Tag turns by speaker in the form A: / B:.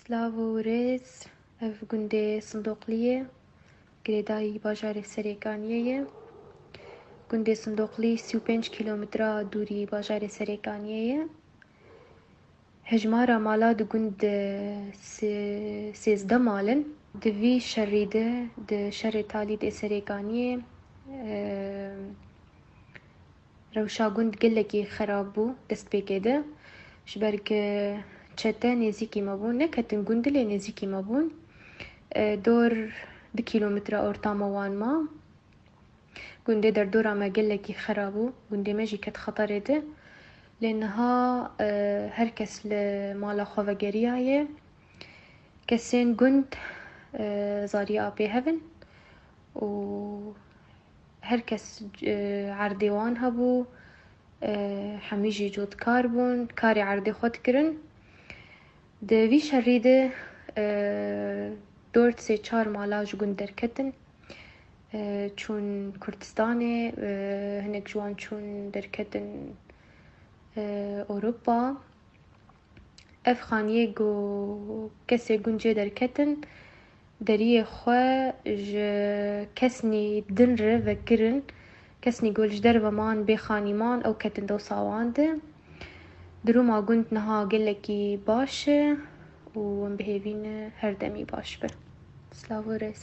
A: Slavo û rêz, ev gundê Sindoqlî ye, girêdayî bajarê Serêkaniyê ye. Gundê Sindoqlî sî û pênc kîlometra dûrî bajarê Serêkaniyê ye. Hejmara mala di gund de si sêzdeh mal in. Di vî şerî de di şerê talî dê Serêkaniyê Rewşa gund gelekî xerab bû destpêkê de. Ji ber ku çete nêzîkî me bûn, neketin gund lê nêzîkî me bûn. Dor du kîlometre ortama wan ma. Gundê derdora me gelekî xera bû. Gundê me jî ket xeterê de. Lê niha her kes li mala xwe vegeriyaye. Kesên gund zariya pê hev in û Her kes erdê wan hebû, hemî jî codkar bûn, karê erdê xwe dikirin. Di vî şerî de dort sê çar mala ji gund derketin, çûn Kurdistanê, hinek ji wan çûn derketin Ewropa. Ev xaniyê ku kesê gund jê derketin deriyê xwe ji kesnî din re vekirin. Kesnî ku ji derve man bê xanî man ew ketin dosa wan de. Dirûma gund niha gelekî baş e û em bihêvî ne her demî baş be. Silav û rêz.